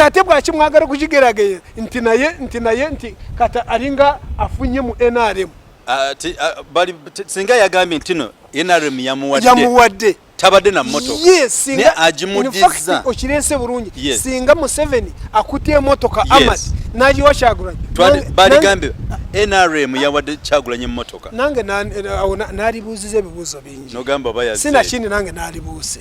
tate bwaki mwagala okukigerageye nti naye nti naye nti kata alinga afunye mu nrm ah, ah, singa yagambye ntino nrm yamuwadde tabadde na motokaagimudizza okirese bulungi singa museveni akutte emotoka amad nagiwa kyagulanyi baligambye nrm yawadde kyagulanyi emotoka nange nalibuuziza ebibuuzo bingi sinakindi nange nalibuuze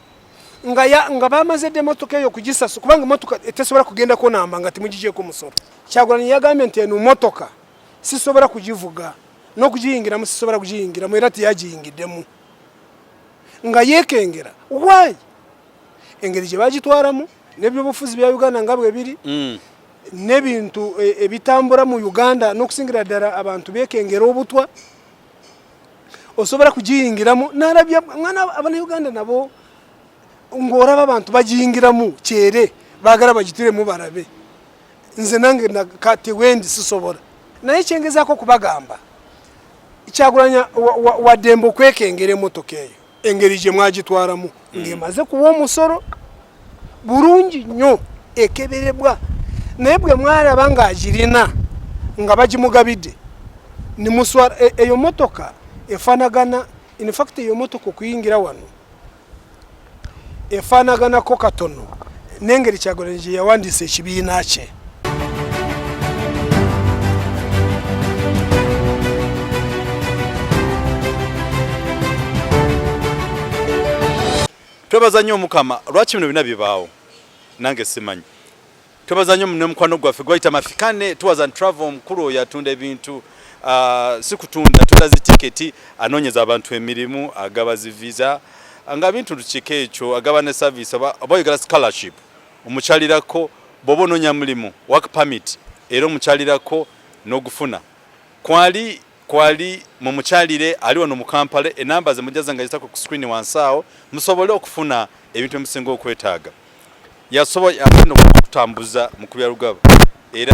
nga ya nga bamaze de motoka eyo kugisasu kubanga motoka etesobola kugenda ko namba nga timujije ko musoro kyagulani yagambe nti eno motoka sisobola kugivuga no kugiyingira mu sisobola kugiyingira mu era tiyagiyingidemu nga yekengera why engeri gye bagitwaramu nebyobufuzi bya uganda nga bwe biri mm. n'ebintu e, ebitambura mu uganda n'okusingira ddala abantu bekengera obutwa osobola kugiyingiramu nalabya mwana abanauganda nabo ng'olaba abantu bagiyingiramu kyere baagala bagitiremu balabe nze nange kati wendi sisobola naye kyengezaako okubagamba kyagulanya waddembe okwekengera emotoka eyo engeri gye mwagitwalamu mm. ng'emaze kuwa omusolo bulungi nnyo ekeberebwa naye bwe mwalaba ng'agirina nga bagimugabidde nimuswala e, eyo motoka efanagana infact eyo motoka okuyingira wano efanaganako katono nengeri kyagolanyi gye yawandiisa ekibiina kye twebaza nnyo omukama lwaki bino bina bibaawo nange simanyi twebaza nnyo ne mukwano gwaffe gwayita mafikane tours and travel omukulu oyo atunda ebintu uh, si kutunda atunda zitiketi anoonyeza abantu emirimu agaba ziviza nga bintu tukika ekyo agaba ne service oba oyogera scholarship omukyalirako bwoba ononya mulimu work permit era omukyalirako nogufuna kwali kwali mumukyalire ali wano mu Kampala enamba ze mujaza nga zitako ku screen wansi awo musobole okufuna ebintu emusinga okwetaaga yasobo yagenda okutambuza mu kubya lugaba era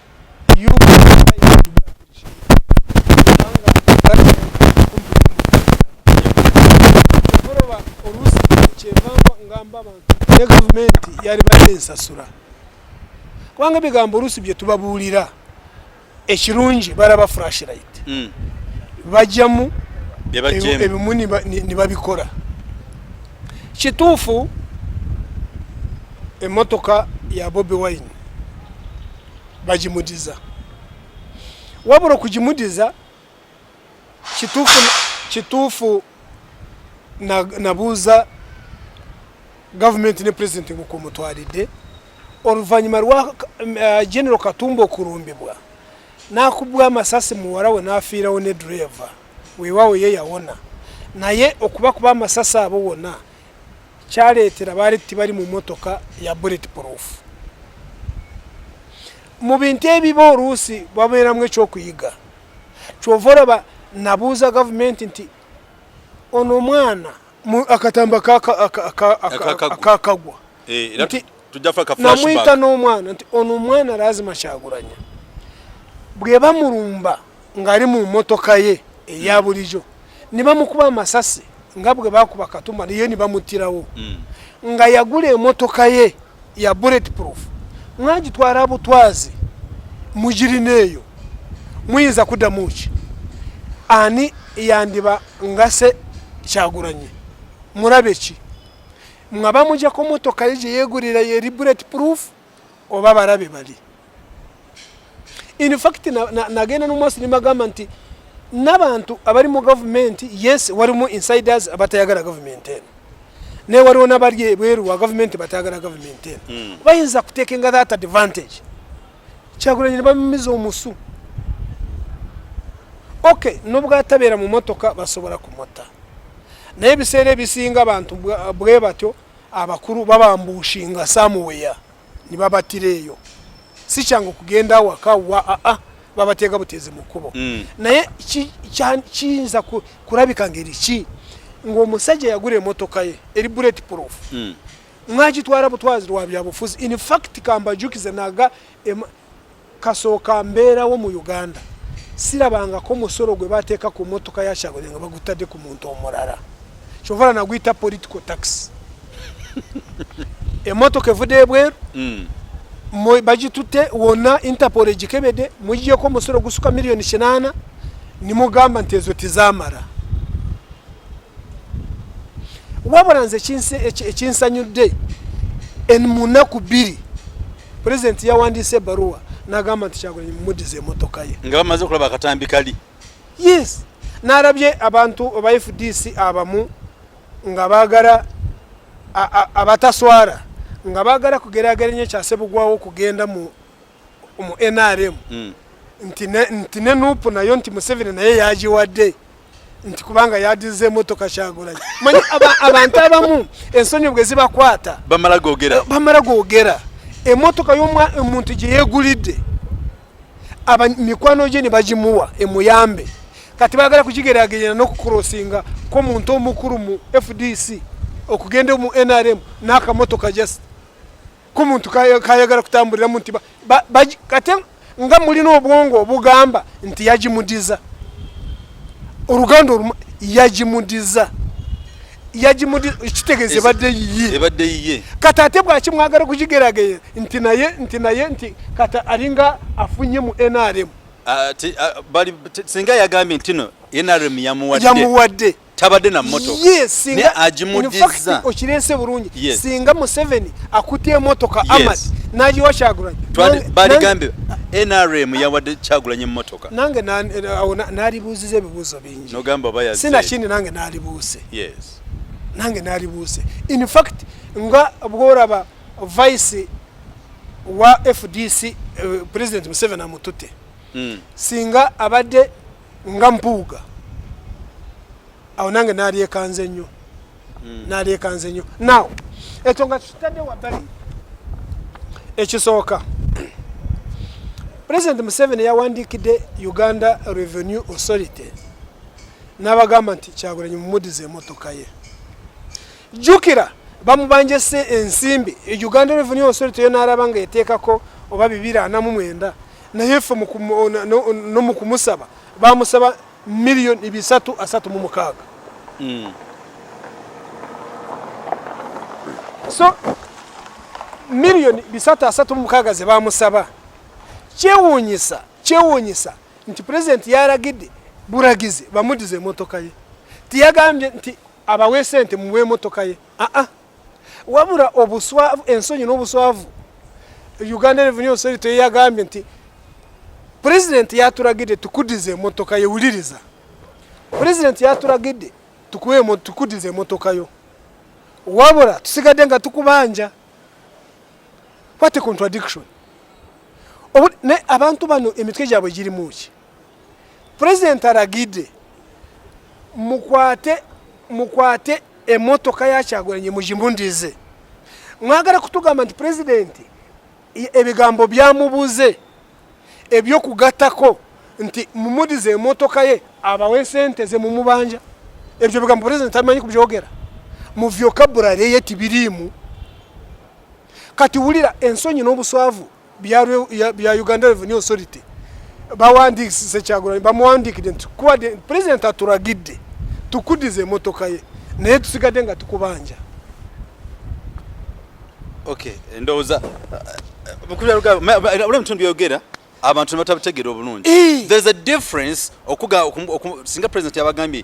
ne gavumenti yali badde nsasula kubanga ebigambo oluusi bye tubabuulira ekirungi balaba frashlight hmm. bajjamu ebimu nibabikola kituufu emotoka ya bobi wine bagimudiza wabula okugimudiza kituufu kituufu nabuuza gavumenti ne pulezidenti nkukumutwalidde oluvannyuma lwa eh, genero katumba okulumbibwa n'akubwa amasasi muwala we n'afiirawo ne dureeva weewaawo ye yawona naye okuba kuba amasasi abo wona kyaleetera baali tibali mu motoka ya bullet proof mu bintu ebiba oluusi babeeramu ekyokuyiga kyova olaba nabuuza gavumenti nti ono omwana akatamba akakagwa eh, nti namuyita n'omwana nti ono omwana lazima kyagulanya bwebamulumba ng'ali mu motoka ye eya hmm. bulijo nebamukuba amasasi nga bwe bakuba katuma naye nebamuttirawo hmm. nga yagula emotoka ye ya bullet proof mwagitwala butwazi mugirina eyo muyinza kuddamu ki ani yandiba ngase kyagulanye murabe ki mwaba mujja ko motoka ye yegurira ye bullet proof oba barabe bali in fact nagenda na, na nomwasi nimagamba nti n'abantu abali mu gavumenti yes walimu insiders abatayagala gavumenti eno naye waliwo nabali ebweru wa gavumenti batayagala gavumenti eno hmm. bayinza kutekenga that advantage kyagulanyi ne bamumiza omusu ok nobwatabeera mu motoka basobola kumutta naye ebiseera ebisinga abantu bwe batyo abakulu babambuushinga samuweya nibabatira eyo si kyangu kugenda awaka wa aa ah, ah, babateega buteezi mu kkubo mm. naye kiyinza kulabika ngeri ki ng'omusajja yagula emotoka ye eri bullet proof mm. mwagitwala butwazi lwa byabufuzi in fact kambajukize naga kasooka mbeerawo mu uganda sirabangako musolo gwe bateeka ku motoka ya kyagole nga bagutadde ku muntu omulala kyovala naguyita political tax emotoka evude ebweru mm. bagitutte wonna interpol egikebede mugiyeko omusolo gusuka miliyoni kinaana nimugamba nti ezo tizamala wabula nze ekinsanyudde en munaku bbiri pulezidenti yawandiise ebaruwa nagamba nti kyagulanyi mumudiza emotoka ye nga bamaze okulaba akatambi kali yes nalabye abantu aba fdc abamu nga bagala abataswara nga bagala kugerageranya ekyasebugwawo okugenda mu mu nrm mm. nti ne nupu nayo nti museveni naye yagiwadde nti kubanga yadize emotoka kyagulanyi manyi abantu abamu ensonyi bwe zibakwata bamala gogera bamala gogera emotoka yomuntu gyeyegulidde mikwano gye ne bagimuwa emuyambe kati bagala kukigeragenya nokukurosinga ko muntu omukulu mu fdc okugenda mu nrm nakamotoka just ku muntu kayagala kutambuliramu nti kate nga mulina obwongo obugamba nti yagimudiza oluganda olumu yagimudiza yagimudikitegeza ebadde yiyeebadde yiye kati ate bwaki mwagala okugigerageye nti naye nti naye nti kati alinga afunye mu nrm ah, ah, singa yagambye ntino nrm yamuwadde tabadde na motoka yes, ne agimudiza okirese bulungi yes. singa museveni akutte emotoka yes. amat nagiwa kyagulanyi baligambye nrm yawadde kyagulanyi emotoka nange nalibuuziza ebibuuzo bingi sinakindi nange nalibuuse yes. nange nalibuuse in fact nga bworaba vice wa fdc uh, eh, president museveni amutute mm. singa abadde nga mpuuga awo nange nalyekanze nnyo hmm. nalyekanze nnyo naw ekyo nga kitadde wabbali ekisooka president museveni yawandiikidde uganda revenue authority n'abagamba nti kyagulanyi mumudiza emotoka ye jjukira bamubanja ensimbi uganda revenue authority yo n'alaba nga eteekako oba bibiri ana mu mwenda naye ffe no mu kumusaba bamusaba miliyoni bisatu asatu mu mukaaga hmm. so miliyoni bisatu asatu mu mukaaga ze bamusaba kyewuunyisa kyewuunyisa nti pulezidenti yalagidde buragizi bamudize emotoka ye tiyagambye nti abawe sente muwe emotoka ye aa ah, ah. wabula obuswavu ensonyi n'obuswavu uganda revenue seri teyagambye nti pulezidenti yaturagidde tukudize emotoka yo wuliriza pulezidenti yaturagidde tukuwe tukudize emotoka yo wabula tusigadde nga tukubanja what a contradiction ne abantu bano emitwe gyabwe girimuki president aragide mukwate mukwate emotoka yakyagulanye mujimundize mwagala kutugamba nti president ebigambo byamubuze ebyokugatako nti mumudize emotoka ye abawe sente ze mumubanja ebyo bigambo president amanyi kubyogera mu vocabulary ye tibiriimu kati wulira ensonyi n'obuswavu bya Uganda Revenue Authority bawandiikise Kyagulanyi bamuwandiikidde nti kubadde pulezidenti aturagidde tukudize emotoka ye naye tusigadde nga tukubanja okay ndowooza ula mutundu byogera abantu nebatabitegera obulungi there's a difference okuga singa president yabagambye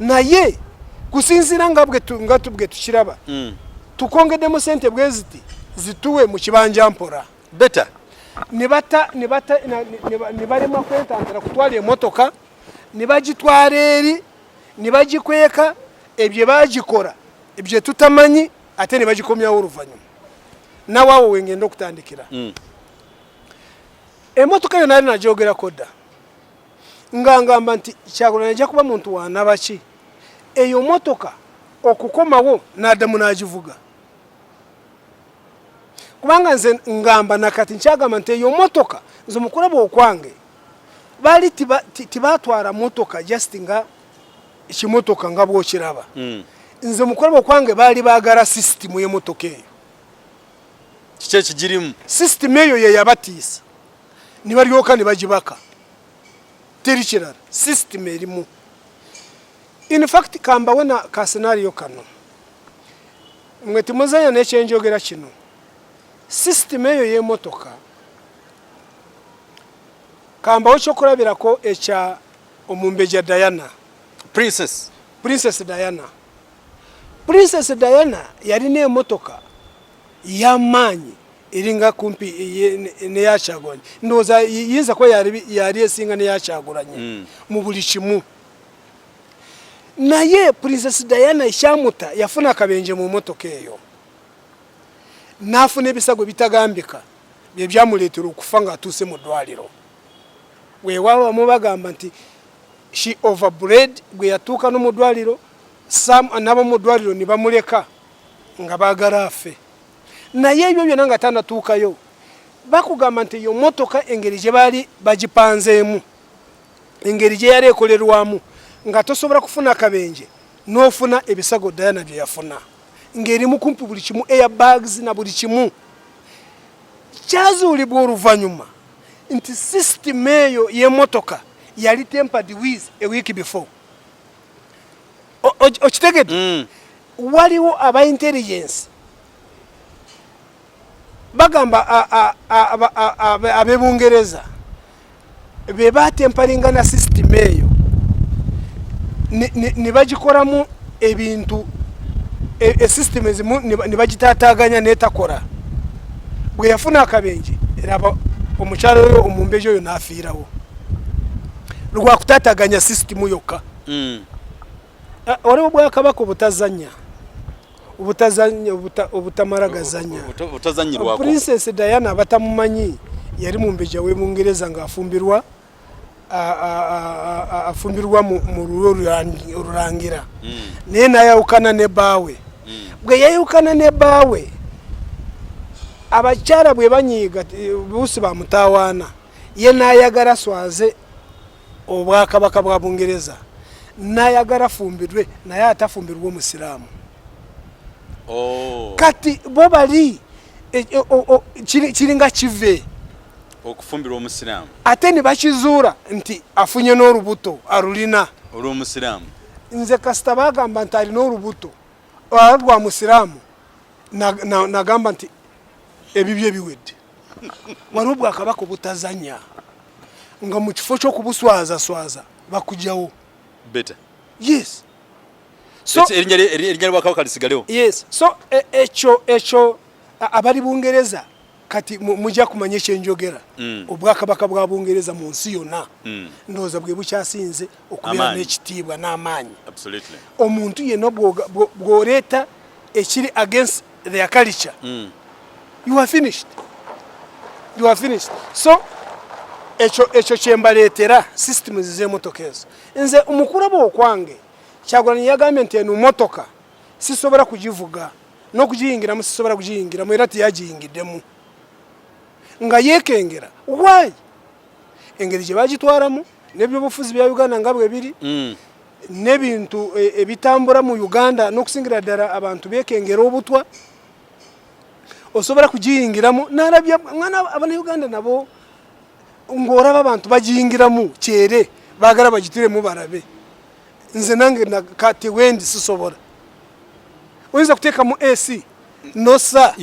naye kusinziira nga nga tubwe tukiraba mm. tukongeddemu sente bwe ziti zituwe mu kibanja mpora beta ne bata ne bata ne balema kwetantara kutwala emotoka ne bagitwala eri ne bagikweka ebyo bagikora ebyo tutamanyi ate ne bagikomyawo oluvannyuma nawe awo wengenda okutandikira mm. emotoka yona ali nagyogerako dda nga ngamba nti kyagulanyi ajja kuba muntu wanabaki eyo motoka okukomawo nadamu nagivuga kubanga nze ngamba nakati nkyagamba nti eyo motoka nze mukulaba okwange bali tibatwara motoka just nga ekimotoka nga bwokiraba hmm. nze mukulaba okwange baali bagala sisitimu yemotoka eyo kiki ekigirimu sisitimu eyo yeyabatiisa ne balyoka ne bagibaka teri kirala system erimu in fact kambawe na ka scenario kano mwe timuzanya nekyenjogera kino system eyo y'emotoka kambawo kyokulabirako ekya omumbeja diana princess princess diana princess diana yalina emotoka yamaanyi eringa kumpi neyakyagulanye ndowooza yinza kuba yali esinga neyakyagulanye hmm. mu buli kimu naye princess diana ekyamuta yafuna akabenje mu motoka eyo n'afuna ebisago bitagambika bye byamuleetera okufa ng'atuuse mu ddwaliro weewaawo bamu bagamba nti she overbred gwe yatuuka no mu ddwaliro sam anaba mu ddwaliro ne bamuleka nga bagala afe naye ebyo byona nga tanatuukayo bakugamba nti eyo motoka engeri gye baali bagipanzeemu engeri gye yali ekolerwamu nga tosobola kufuna kabenje n'ofuna ebisago dayana bye yafuna ng'erimu kumpi buli kimu air bags na buli kimu kyazuulibwa oluvannyuma nti sisitimu eyo y'emotoka yali tempered with a week before okitegedde mm. waliwo aba intelligence bagamba abebungereza be batempalinga na system eyo ne bagikoramu ebintu e, e system ezimu ne bagitataganya netakora bwe yafuna akabenje era omukyalo oyo omumbeji oyo nafiirawo lwakutataganya sisitimu yokka mm. ah, waliwo obwakabaka obutazanya obutazanya obutamala gazanya princess diana abatamumanyi yali mumbeja webungereza nga afumbirwa afumbirwa mu lulwo olulangira mm. naye nayawukana ne baawe mm. bwe yayawukana ne baawe abakyala bwe banyiiga buusi bamutawaana ye nayagala swaze obwakabaka bwa bungereza nayagala fumbirwe naye atafumbirwa omusiraamu oh. kati bo bali e, e, kiringa kive okufumbirwa omusiraamu ate ne bakizuula nti afunye n'olubuto alulina olw'omusiraamu nze kasita bagamba nti alina olubuto lwa musiraamu nagamba nti ebibyo ebiwedde waliwo bwakabaka obutazanya nga mu kifo ky'okubuswazaswaza bakujawo beta yes erinnya lwakabaka lisigalewo yes so e, ekyo ekyo abali bungereza kati mujja kumanya ekyenjogera mm. obwakabaka bwa bungereza mu nsi yonna mm. ndowooza bwe bukyasinze okubeera n'ekitiibwa n'amaanyi omuntu yenna bw'oleeta ekiri against their culture mm. you are finished you are finished so ekyo ekyo kyembaleetera systems z'emotoka ezo nze omukulaba okwange kyagulanyi yagambye nti eno motoka sisobola kugivuga n'okugiyingiramu sisobola kugiyingiramu era teyagiyingiddemu nga yeekengera why engeri gye bagitwalamu nebyobufuzi bya uganda nga bwebiri mm. nebintu e, ebitambura mu uganda nokusingira ddala abantu bekengera obutwa osobola kugiyingiramu nalabya mwana abanauganda nabo ngaoraba abantu bagiyingiramu kyere bagala bagitiremu barabe nze nange kati wendi sisobola oyinza kuteekamu ac nosa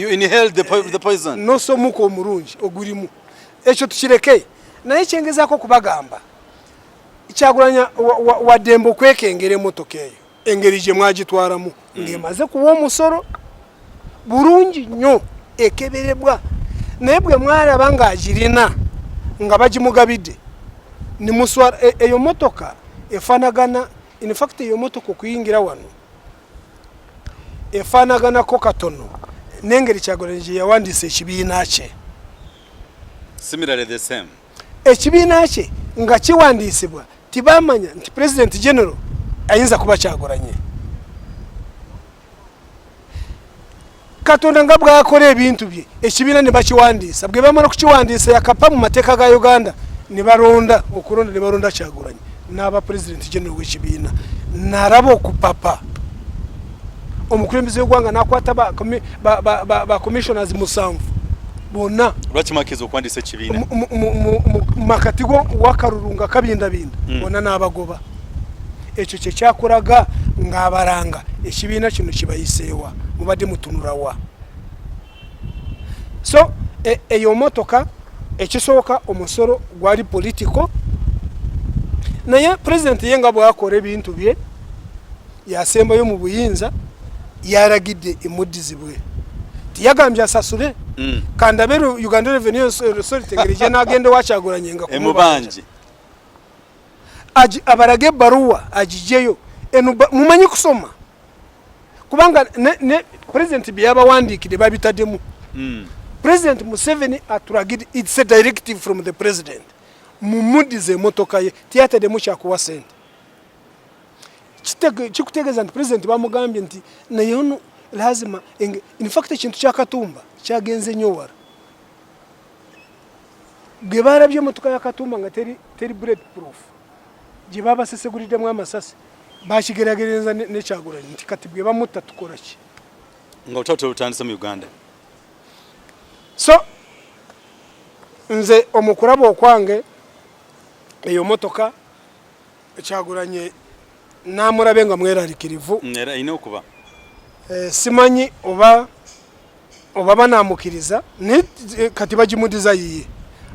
nosa omuka omurungi ogurimu ekyo tukireke naye kyengezaako okubagamba kyagulanya waddembe okwekengera emotoka eyo engeri gye mwagitwalamu mm. ng'emaze kuwa omusolo bulungi nnyo ekeberebwa naye bwe mwalaba ng'agirina nga bagimugabidde nimuswala e, eyo motoka efanagana infact eyo motoka okuyingira wano efaanaganako katono n'engeri kyagulanyi gye yawandiisa ekibiina kye ekibiina kye nga kiwandiisibwa tibamanya nti pulezidenti genero ayinza kuba kyagulanye katonda nga bwakora ebintu bye ekibiina ne bakiwandiisa bwe bamala okukiwandiisa yakapa mu mateeka ga uganda ne balonda okulonda ne balonda kyagulanyi n'aba pulezidenti genero w'ekibiina nalaba okupapa omukulembeze w'egwanga nakwata bacommissioners musanvu bonna lwakimakiza okuwandiisa ekibiina mu makati go wakalulu nga kabindabinda mm. bonna n'abagoba ekyo kyekyakulaga ng'abalanga ekibiina kino kibayiseewa mubadde mutunulawa so e, eyo motoka ekisooka omusolo gwali politiko naye pulezidenti ye nga bwakola ebintu bye yasembayo mu buyinza yaragidde emuddizibwe tiyagambye asasule mm. kandabe uganda revenue authority ngeri gye nagenda wakyagulanye nga emubanje abarage ebbaluwa agijeyo mumanyi kusoma kubanga ne pulezidenti bye yabawandiikide babitademu hmm. pulezidenti museveni aturagide its a directive from the president mumudize emotoka ye tiyatademu kyakuwa sente kikutegeeza nti pulezidenti bamugambye nti naye ono lazima infact ekintu kyakatumba kyagenze nyo wala gwe barabye emotoka ya katumba nga teri, teri bullet proof gye babaseseguliddemu amasasi bakigeragereza nekyagulanyi nti kati bwe bamutta tukola ki nga otata olutandise mu uganda so nze omukuraba okwange eyo motoka Kyagulanyi namulabe nga mweralikirivu mm, era ina okuba eh, simanyi oba oba banamukiriza naye eh, kati bagimudiza yiye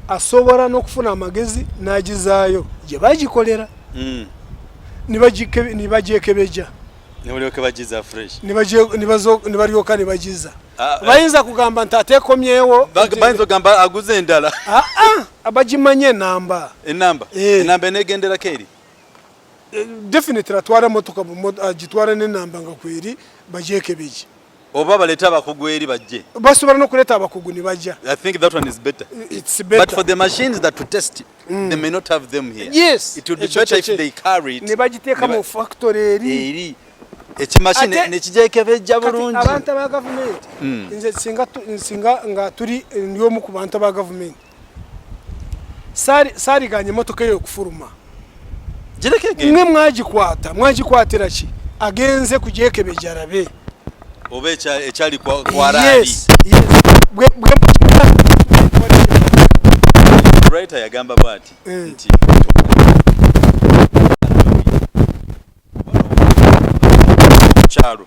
asobola n'okufuna amagezi n'agizaayo gye bagikolera mm. nibagyekebeja nibalyoka nibagiza ah, eh. bayinza kugamba nti atekomyewo bayinza ogamba aguza endala ah, ah. abagimanya enamba enamba eh. enamba enegendera keri eh, definitely atwara motoka agitwara ah, n'enamba nga kweri bagyekebegye oba baleta abakugu eri bajje basobola nokuleta abakugu ne bajja i think that one is better it's better but for the machines that to test it, mm. they may not have them here yes it would be better if they carry it ne bagiteeka mu factory eri eri ekimashini nekijekebejja bulungi abantu aba gavumenti mm. nze singa nga tuli ndi omu ku bantu aba gavumenti saariganye emotoka eyo okufuluma mwe mwagikwata mwagikwatira ki agenze kugyekebejja arabe oba ekyali kwaraali writer yagamba bwati eh. nti kyalo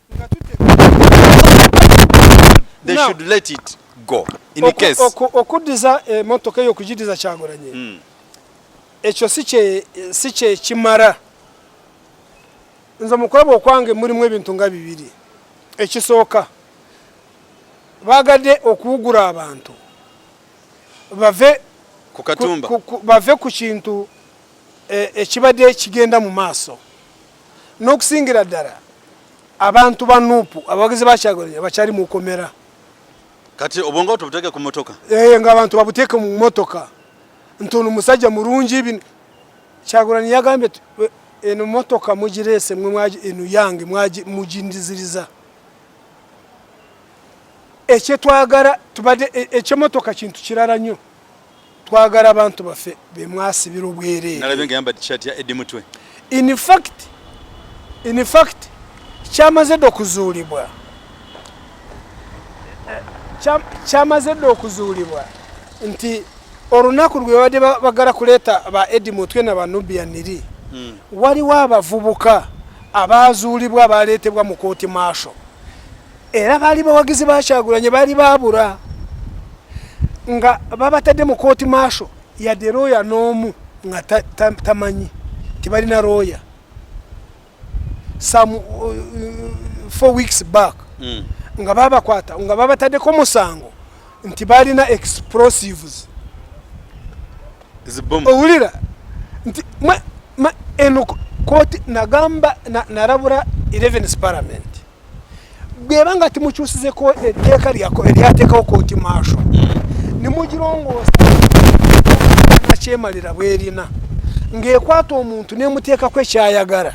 okuddiza emotoka eyo okugiddiza kyagulanye hmm. ekyo si kyekimara nze mukulaba okwange mulimu ebintu nga bibiri ekisooka bagadde okuwugura abantu bave ku kintu e, ekibadde kigenda mu maaso n'okusingira ddala abantu ba nuupu abawagizi ba kyagulanyi abakyali mu komera kati obwongo bwe tubuteeke ku motoka ee eh, ngaabantu babuteeke mu motoka nti ono musajja mulungi bino kyagulanyi yagambye eno motoka mugireese mwe eno yange mugindiziriza ekyetwagala tubadde e, ekyemotoka kintu kirala nnyo twagala abantu baffe bemwasibira obwereere in fact in fact kyamaze dde okuzuulibwa kyamaze dde okuzuulibwa nti olunaku lwebadde bagala kuleeta ba edi mutwe na banubia niri hmm. waliwo abavubuka abaazuulibwa abaaleetebwa mu kooti maasho era baali bawagizi ba Kyagulanyi baali baabula nga babatadde mu kooti maasho yadde looya n'omu nga tamanyi tebalina looya some uh, four weeks back mm. nga babakwata nga babataddeko omusango nti balina explosives owulira nti eno kooti nagamba narabura 11 parliament bweba nga timukyusizeko etteeka lyako eryateekawo kooti maasho hmm. nemugirongoosa nakyemalira bwerina ng'ekwata omuntu nemuteekako ekyayagala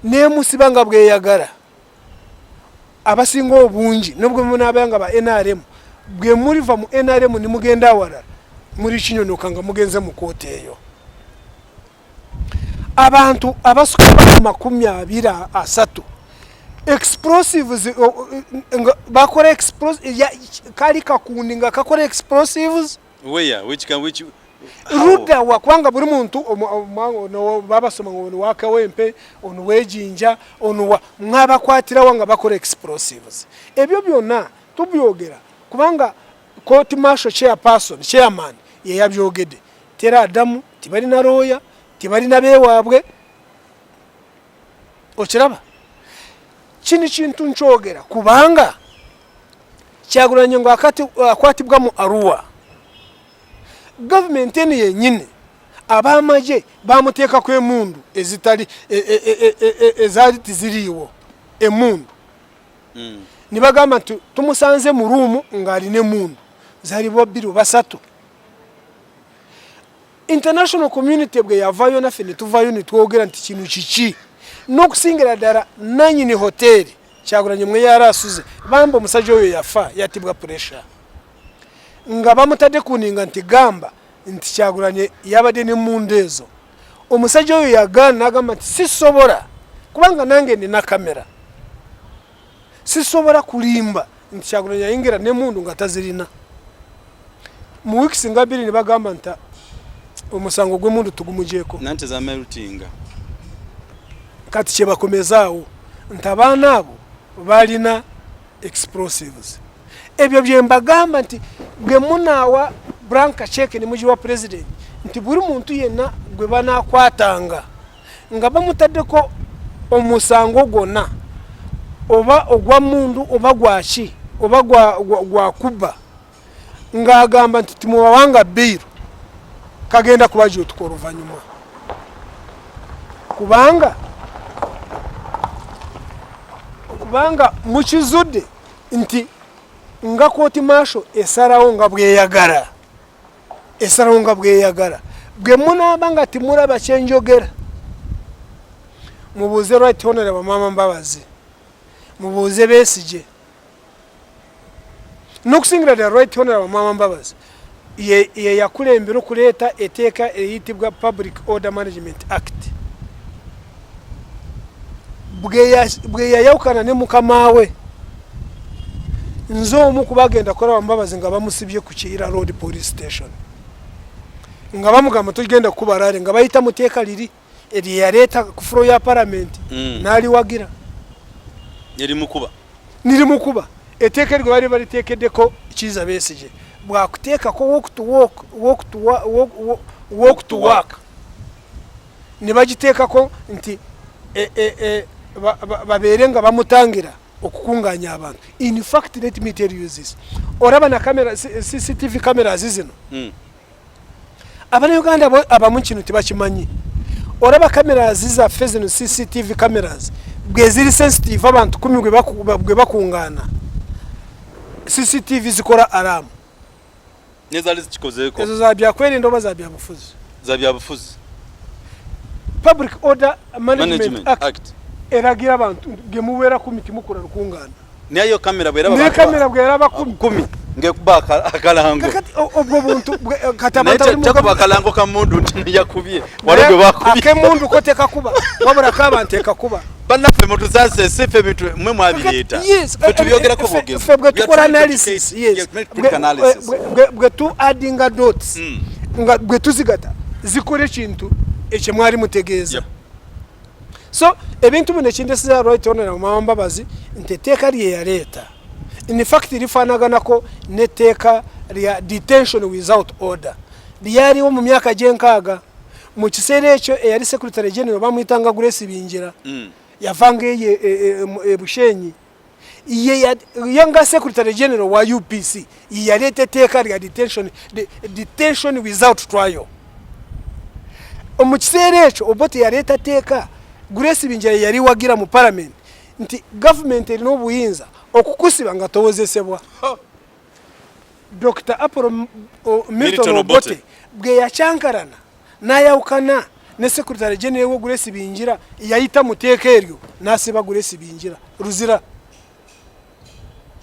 nemusiba nga bweyagala abasinga obungi nobwe munabaya nga ba nrm bwe muliva mu nrm nimugenda awalala muli kinyonoka nga mugenze mu kooti eyo abantu abasuka mu makumi abiri asatu explosives eh, eh, nga bakora explosives ya kali kakundi nga kakora explosives where which can which ruda wa kwanga buri muntu no baba soma ngo waka wempe onu wejinja onu wa mwaba kwatira wanga bakora explosives ebyo byona tubyogera kubanga court marshal chairperson chairman ye yabyogede tera adamu tibalina looya tibalina bewaabwe okiraba kino kintu nkyogera kubanga kyagulanye nga akwatibwa mu aruwa gavumenti eno yenyini abamagye bamuteekaku emundu ezitali e, e, e, ezaali tiziriiwo emundu hmm. nibagamba nti tumusanze mu ruumu ng'alina emundu zalibwa bbiri basatu international community bwe yavayo naffe ne tuvayo ne twogera nti kino kiki n'okusingira ddala nanyini hoteeri kyagulanyi mwe yari asuze bamba omusajja oyo yafa yatibwa puresha nga bamutadde kuninga nti gamba nti kyagulanye yabadde ne munda ezo omusajja oyo yagaana nagamba nti sisobola kubanga nange nina kamera sisobola kulimba nti kyagulanyi ayingira nemundu nga tazirina mu weeks nga biri nebagamba nti omusango gwemundu tugumujeeko nanti zamerutinga kati kyebakomezaawo nti abaana abo balina explosives ebyo byembagamba nti bwemunaawa branka cheke nemugiwa president nti buli muntu yenna gwe banakwatanga nga bamutaddeko omusango gwonna oba ogwa mundu oba gwaki oba gwakubba ng'agamba nti timubawanga biiro kagenda kuba gyotuka oluvannyuma kubanga kubanga mukizudde nti nga kooti maasho esalawo nga bweyagala esalawo nga bweyagala bwe munaaba nga timulaba kyenjogera mubuuze right honorable maama mbabazi mubuuze besigye nokusingira the right honorable maama mbabazi yeyakulembera okuleeta eteeka eyitibwa public order management act bwe yayawukana ne mukama we nze omu kubagenda kukola bamubabazi nga bamusibye ku kiira road police station nga bamugamba tugenda kukuba rale nga bayita mu teeka liri eryeyaleeta ku fulo ya paramenti mm. n'aliwagira nirimukuba nirimukuba eteeka eryo baali baliteekeddeko kiiza besigye bwakuteekako walk to walk walk to walk walk to work ne bagiteekako nti e, e, e, babeere nga bamutangira okukunganya abantu in fact let me tell you this oraba na camera cctv cameras zino mm. abana uganda abamu kino tebakimanyi oraba cameras zaffe zino cctv cameras bweziri sensitive abantu kumi gwe bakungana cctv zikora aramu nezali zikikozeko ezo za byakwerinda oba za byabufuzi za byabufuzi public order management, management act, act. eragira abantu gemuwera kumi timukula lukungana nayo kamera bwera ba kamera bwera ba kumi kumi ngekuba akalango kati obwo buntu eh, kati abantu bali mu kuba akalango ka mundu ntini yakubye wale gwe bakubye akemundu koteka kuba wabura kabantu ekakuba bannaffe mutuzaze si ffe bintu mwe mwabireeta ffe tubyogerako bwogezi ffe bwe tukola analysis yes bwe tu addinga dots hmm. nga bwe tuzigata zikola ekintu ekye mwali mutegeeza so ebintu bino ekindesiza right onera mumama mbabazi nti etteeka lye yaleeta in fact lifaanaganako n'etteeka lya detention without order lyaliwo mu myaka gy'enkaaga mu kiseera ekyo eyali secretary general bamuyitanga grace binjira mm. yavanga eyo ebushenyi e, e, e, yanga secretary general wa upc yeyaleeta etteeka lya detention, de, detention without trial mu kiseera ekyo obote yaleeta tteeka grace binjira yeyaliwagira mu parliament nti gavumenti erina obuyinza okukusiba nga towozesebwa Dr. Apollo Milton Obote bwe yakyankarana n'ayawukana ne sekuritale genero wo Grace Bingira yayita mu teeka eryo n'asiba Grace Bingira luzira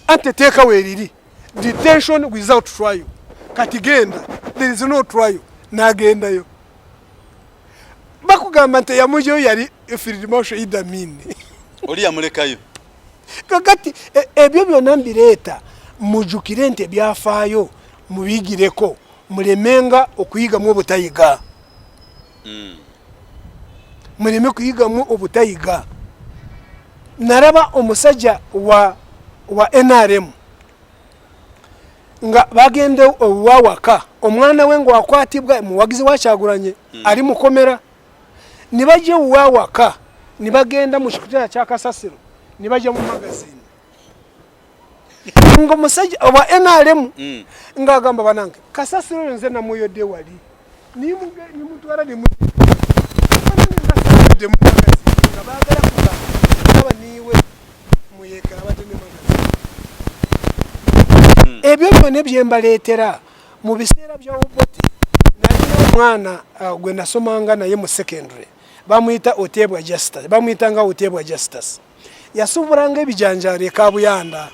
ante teeka weeriri detention without trial kati genda there is no trial n'agendayo bakugamba nti eyamujeyo yali firidimosho idamini oli yamulekayo kakati e, ebyo byona mbireeta mujukire nti ebyafaayo mubigireko mulemenga okuyigamu obutayiga hmm. muleme kuyigamu obutayiga naraba omusajja wa wa nrm nga bagende owawaka omwana we ngwakwatibwa muwagizi wakyagulanye mm. ali mukomera nibaja owawaka nibagenda mukikutera kyakasasiro nibaja mu magazini nga omusajja owa nrm mm. nga agamba banange kasasiro nze namuyode wali nimutwala nemutwala ebyo byona byembaleetera mu biseera bya oboti nalina omwana uh, gwe nasomanga naye mu secondary bamuyita otebwa justus bamuyita nga otebwa justus yasuubulanga ebijanjaalo ekabuyanda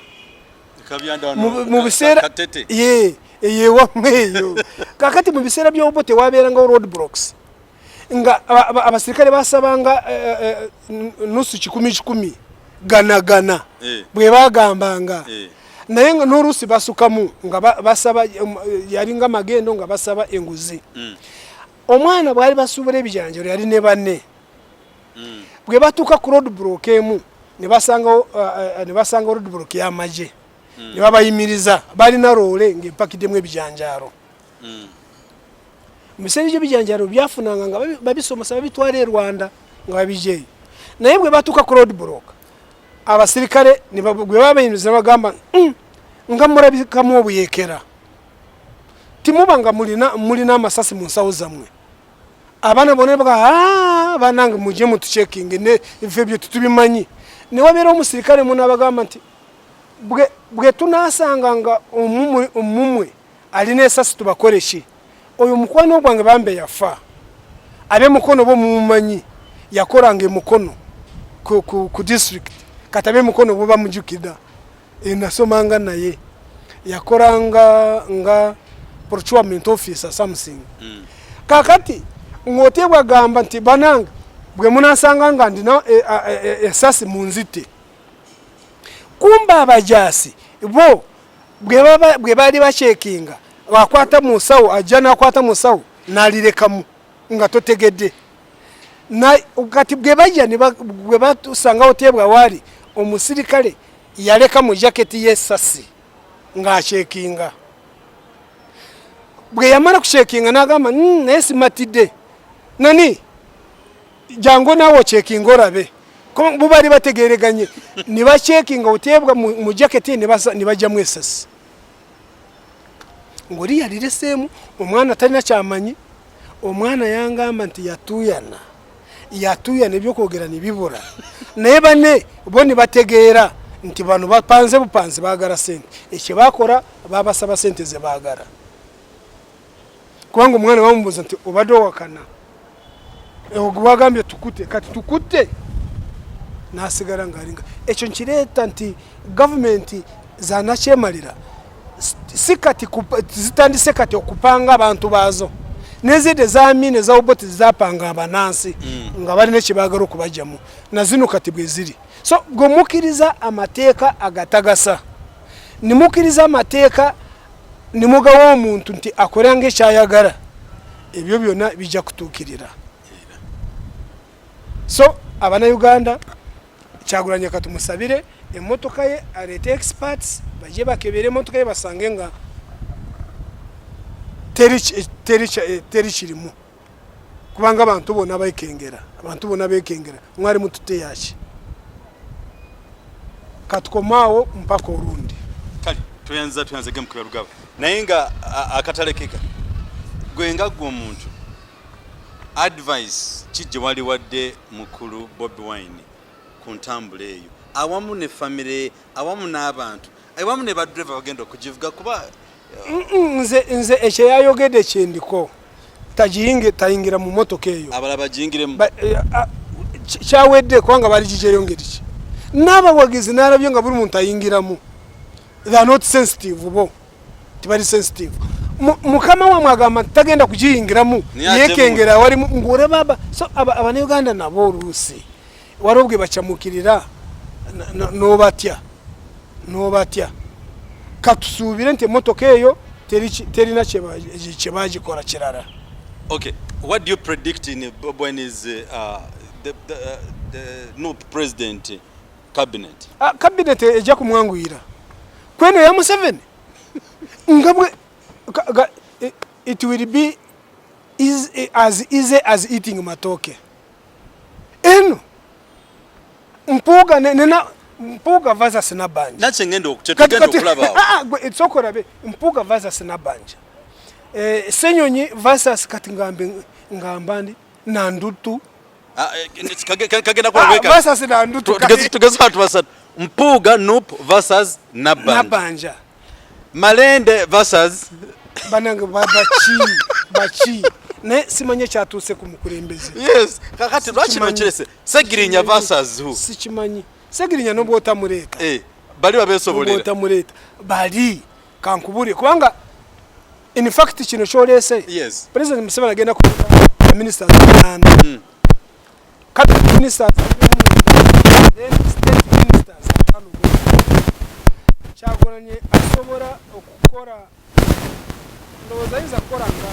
mu biseera ye eyewamwe eyo kakati mu biseera byobo tewabeerangawo road blocks nga abasirikale basabanga eh, eh, eh, nusu kikumi kikumi gana gana bwe bagambanga naye nga n'oluusi basukamu nga basaba um, yalinga magendo nga basaba enguzi mm. omwana bwali basuubula ebijanjalo yali ne banne mm. bwe batuuka ku roadblock emu ne basanga uh, uh, ne basanga roadblock ya maje mm. ne babayimiriza balina roole ng'empakiddemu ebijanjaalo mm. mu biseera ebyo ebijanjaalo byafunanga nga babisomosa babitwala e rwanda nga babijeeyo naye bwe batuuka ku roadblock abasirikale gwe babayimiriza ne bagamba mm, nga mulabikamu obuyekera timuba nga mulina amasasi mu nsawo zammwe abana bona baga ah, banange muje mutu checking ne ife byo tutubimanyi ne wabera omusirikale muna bagamba nti bwe bwe tunasanga nga omumwe omumwe alina esasi tubakore shi oyo mukwano gwange bambe yafa abe mukono bo mumanyi yakorange mukono ku, ku, ku district katabe mukono bo bamujukida enasomanga naye yakoranga nga procurement officer something mm. kakati ng'otye bwagamba nti banange bwe munasanga nga ndina e, e, e, esasi mu nzitte kumba abajaasi bo bwe baali bakyekinga akwata mu nsawo ajja nakwata mu nsawo nalirekamu nga totegedde kati bwe bajja bwe batusangawo tebwa waali omusirikale yaleka mu jaketi y'essasi ng'akyekinga bwe yamala kukyekinga n'agamba hmm, naye simatidde nani jangu naawe okyekinga olabe bo baali bategereganye ne bakyekinga oteebwa mu jaketi ne bajjamu esasi ng'oli yalireseemu omwana talina kyamanyi omwana yangamba nti yatuuyana yatuya nebyokwogera nebibura naye bane bo nebategeera nti bano bapanze bupanzi bagala sente ekyo bakora babasaba sente zebagala kubanga omwana bamubuza nti obadde owakana ogwagambye tukute kati tukute nasigala ngalinga ekyo nkireeta nti gavumenti zanakyemalira si kati zitandise kati okupanga abantu baazo nezidde ezamini ezaoboti zizapanga abanansi mm. nga balina ekyebagala okubajjamu nazino kati bweziri so gwe mukkiriza amateeka agatagasa nimukkiriza amateeka nimugawa omuntu nti akolanga ekyayagala ebyo byona bijja kutuukirira so abanauganda kyagulanya katumusabire emotoka ye aleete experts baje bakebera emotoka ye basange nga teri eh, eh, kirimu kubanga abantu bona baikengera abantu bona bekengera mwari mutute yaki katukomaawo mpaka olundi kale tuyanza tuyanza gemukira lugaba naye nga akatale keka gwe nga gwe omuntu advice ki gye wali wadde mukulu bobi wine ku ntambula eyo awamu ne famire awamu n'abantu awamu ne badreva bagenda okugivuga kuba nze nze ekyo yayogede kyendiko tagiyinge tayingira mu motoka eyo abala bagiyingiremu eh, kyawedde kubanga bali gijeyo ngeri ki n'abawagizi n'alabye nga buli muntu ayingiramu they are not sensitive bo tibali sensitive mukama wamwe agamba nti tagenda kugiyingiramu yekengera wali ngore baba so abanauganda nabo oluusi waliwo bwe bacamukirira nobatya nobatya katusuubire nti emotoka eyo terina kyebagikola kirala okay what do you predict in when is uh, the, the, uh, the, no president cabinet ah, cabinet ejja kumwanguyira kweno ya Museveni nga bwe it will be is as easy as eating matoke eno mpuuga nena mpuuga versus nabanja nakye ngenda okukyetugenda okulaba ah, ah, sokola be mpuuga versus nabanja eh, senyonyi versus kati ngambe ngamba ndi na ndutu ah, eh, kagenda kuwekavasasi ah, na ndutu tugeze watu basatu mpuuga nup versus nabanja, nabanja. malende versus banange bachi bachi ne simanye kyatuuse ku mukulembeze yes kakati lwaki nokirese segirinya versus who sikimanyi segirinya nobwotamuleeta eh, bali babesobolera bali kankubulire kubanga in fact kino kyoleese yes. president museveni agenda ku ministers uganda mm. cabinet ministers then state ministers kyagonanye asobola okukola ndowooza yinza kukola nga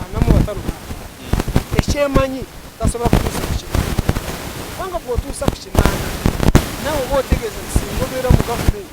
anamu wataluka mm. ekyemanyi tasobola kutuusa ku kinaana kubanga bwotuusa ku kinaana nawe oba otegeeza nti singa obeera mu gavumenti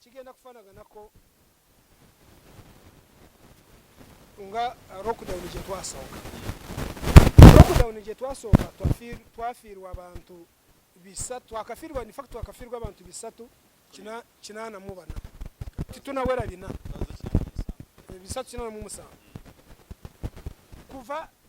Kigenda kufanaganako nga lockdown gye twasooka. Lockdown gye twasooka twafiirwa abantu bisatu, twakafiirwa in fact twakafiirwa abantu bisatu kinaana mu bana titunawera bina bisatu kinaana mu musanvu kuva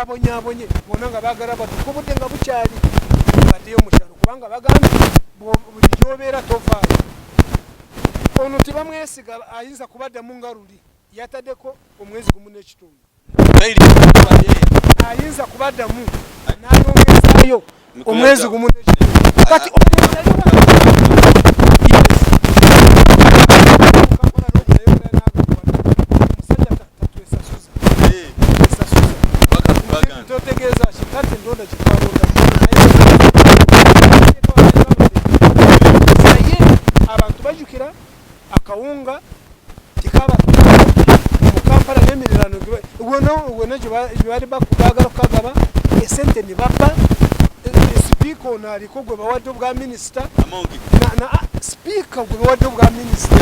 babonyabonye bona nga bagala batukubudde nga bukyali badeyo mukyalo kubanga bagambye buli gyobeera tovaayo ono tebamwesiga ayinza kubaddamu nga luli yatadeko omwezi gumu n'ekitundu ayinza kubaddamu nayongezayo omwezi gumu kati akawunga kikaba mu kampala n'emiriraano wena gyebali bagala okukagaba esente ne bappa sipiika ono aliko gwe bawadde obwa minisita ah, sipiika gwe bawadde obwa minisita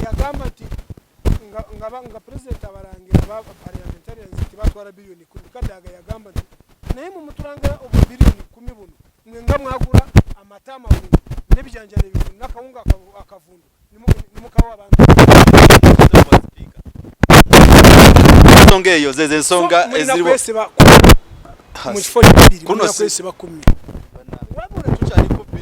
yagamba nti nga pulezidenti abalangira baparliamentarians nti batwala biliyoni kumi kadaga yagamba nti naye mumutulangira obwa biliyoni kumi buno mwe nga mwagula amata amawungu nebijanjalo ebivundu nakawunga akavundu nemukawa abantu ensonga eyo zezo ensonga eziriwo mu kifo kyabiri mulina kwesiba kumi wabula tukyali kubbi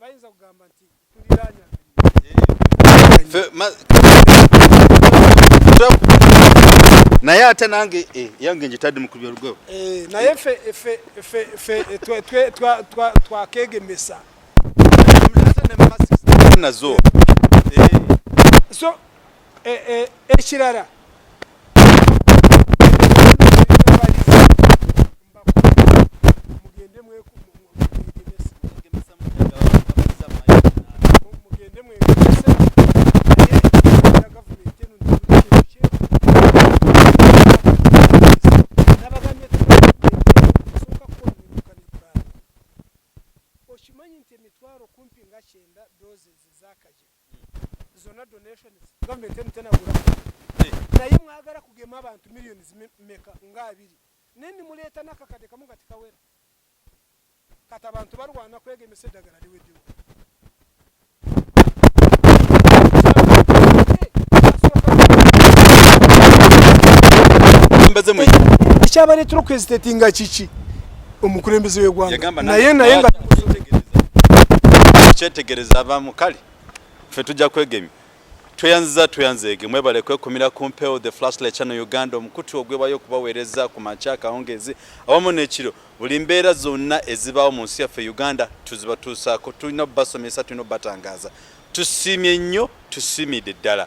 bayinza kugamba nti tuliranya naye ate nange eh, yange njitadde mukubya lugo eh, naye fe twakegemesa nazo eh. so Eh, eh, ekirala mugende mwekese okimanyi nti emitwalo kumpi nga kyenda doses ezakajika zona donations government emu tenagula eh. naye mwagala kugema abantu millions meka nga abiri naye nimuleeta nakakade kamu nga tikawera kati abantu balwana kwegemesa eddagala liweddewo ekyabaletera okwezitetinga kiki omukulembeze wegwanga naye naye nga kyetegereza abamu kale ffe tujja kwegemya tweyanziza tweyanzeege mwebale kwekumira ku mpewo the flashlight channel uganda omukutu ogwebayo okubaweereza ku makya akawungeezi awamu n'ekiro buli mbeera zonna ezibaawo mu nsi yaffe uganda tuzibatuusaako tulina obubasomesa tulina obubatangaza tusiimye nnyo tusiimidde ddala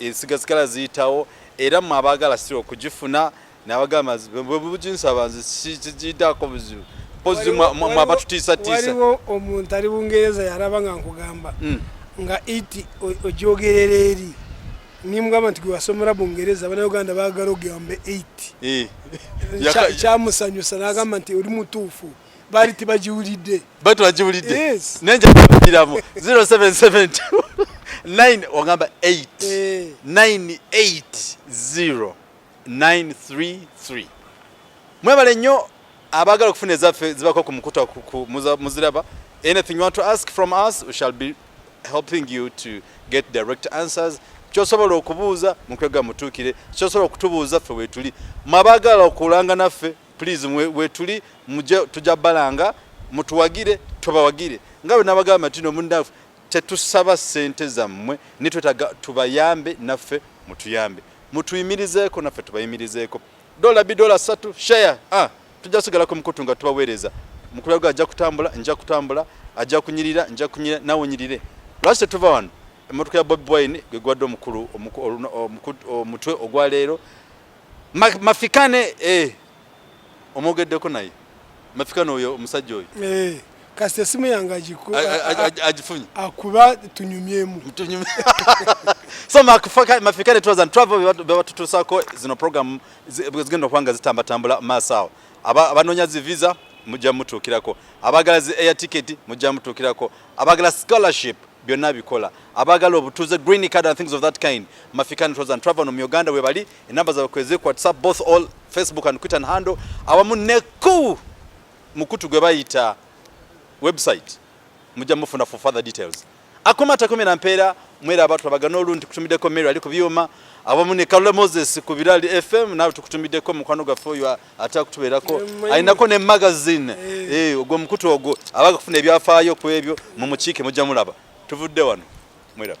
ensiga zigala ziyitawo era mwe abaagala sira okugifuna nabagamba bwebuginsaba nze sikigidaako buzibu mpozi mwe abatutiisatiisa waliwo omuntu ali bungereza yalaba nga nkugamba hmm. nga iti ojogerera eri nimugamba nti gwewasomera bungereza abanauganda bagala ogamba 8 eh. kyamusanyusa nagamba nti oli mutuufu bali tibagiwulidde bali tibagiwulidde yes. naye nja kubagiramu 0772 9 ogamba 8 eh. 980 933 mwebale nnyo abagala okufuna ezaffe zibako ku mukuta muziraba anything you want to ask from us we shall be helping you to get direct answers kyosobola okubuuza mukwega mutuukire kyosobola okutubuuza ffe wetuli mwabagala okulanga naffe please wetuli muje tuja balanga mutuwagire tubawagire nga bwe nabagamba tino mundafu tetusaba sente zammwe ni twetaga tubayambe naffe mutuyambe mutuyimirizeeko naffe tubayimirizeeko dola bi dola satu share ah tujja sigala ku mukutu nga tubaweereza mukulu gwa ajja kutambula nja kutambula ajja kunyirira nja kunyirira nawe onyirire lwaki tetuva wano emmotoka ya bobi wine gwe gwadde omukulu omutwe ogwa leero Ma, mafikane eh. Omogeddeko naye mafikane oyo omusajja oyo eh. Kasita esimu yange agifunye akuba tunyumyemu so mafikane tours and travel bebatutusako zino program zigenda okubanga zitambatambula maaso awo abanoonya zi visa mujja mutuukirako abagala zi air ticket mujja mutuukirako abagala scholarship byonna bikola abagala obutuze green card and things of that kind mafikani tours and travel mu uganda webali enamba zabwe kwezi ku whatsapp both all facebook and twitter and handle awamu neku mukutu gwe bayita website mujja mufuna for further details akoma takomera mpeera mwera abantu abagana olundi kutumiddeko mary ali ku byuma awamu ne kalula moses ku birali fm nawe tukutumiddeko mukwano gwaffe oyo ate akutubeerako alinako ne magazine eh. eh, ogwo mukutu ogwo abaga kufuna ebyafaayo ku ebyo mu mukiike mujja mulaba tuvudde wano mweraba